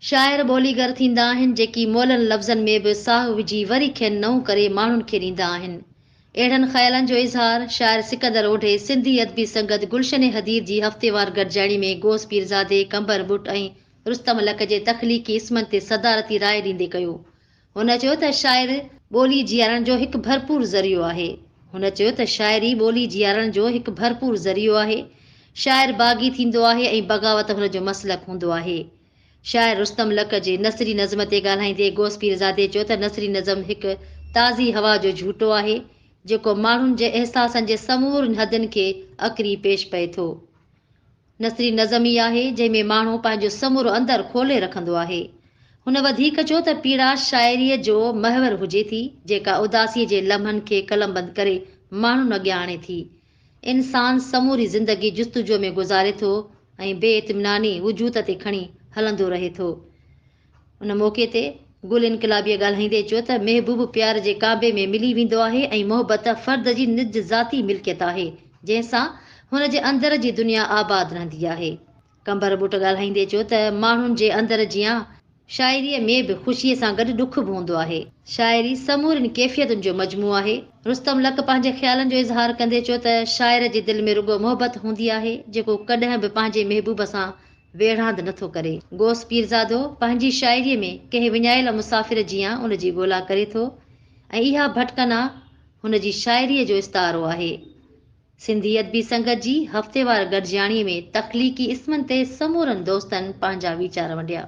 شاعر ٻوليگر ٿيندا آهن جيڪي مئلن لفظن ۾ به ساهه وجهي وري کين نئون ڪري ماڻهن کي ڏيندا آهن. اهڙن خيالن جو اظهار شاعر سڪندر اوڍي سنڌي ادبي سنگت گلشن حديد جي هفتيوار گڏجاڻي ۾ غوث پيرزادي، قمبر ٻٽ ۽ رستم لڪ جي تخليقي اسمن تي صدارتي راء ڏيندي ڪيو. هن چيو ته شاعر ٻولي جيارڻ جو هڪ ڀرپور ذريعو آهي. هن چيو ته شاعري ٻولي جيارڻ جو هڪ ڀرپور ذريعو آهي. شاعر باغي ٿيندو آهي ۽ بغاوت هن جو مسلڪ هوندو آهي. شاعر رستم لڪ جي نثري نظم تي ڳالهائيندي غوث پيرزادي چيو ته نثري نظم هڪ تازي هوا جو جهوٽو آهي، جيڪو ماڻهن جي احساسن جي سمورين حدن کي اڪري پيش پئي ٿو. نثري نظم ئي آهي، جنهن ۾ ماڻهو پنهنجو سمورو اندر کولي رکندو آهي. هن وڌيڪ چيو ته پيڙا شاعريء جو محور هجي ٿي، جيڪا اداسيء جي لمحن کي قلمبند ڪري ماڻهن اڳيان آڻي ٿي. انسان سموري زندگي جستجوء ۾ گذاري ٿو ۽ بي اطميناني وجود تي کڻي هلندو رهي ٿو. ان موقعي تي گل انقلابيه ڳالهائيندي چيو ته محبوب پيار جي ڪعبي ۾ ملي ويندو آهي ۽ محبت فرد جي نج ذاتي ملڪيت آهي جنهن سان هن جي اندر جي دنيا آباد رهندي آهي قمبر ٻٽ ڳالهائيندي چيو ته ماڻهن جي اندر جيان شاعري ۾ به خوشي سان گڏ ڏک به هوندو آهي شاعري سمورين ڪيفيتن جو مجموعو آهي رستم لڪ پنهنجي خيالن جو اظهار ڪندي چيو ته شاعر جي دل ۾ رڳو محبت هوندي آهي جيڪو ڪڏهن به پنهنجي محبوب سان ويڙهاند نٿو ڪري. غوث پيرزادو پنهنجي شاعريء ۾ ڪنهن وڃايل مسافر جيان ان جي ڳولا ڪري ٿو ۽ اها ڀٽڪنا هن جي شاعريء جو استعارو آهي. سنڌي ادبي سنگت جي هفتيوار گڏجاڻيء ۾ تخليقي اسمن تي سمورن دوستن پنهنجا ويچار ونڊيا.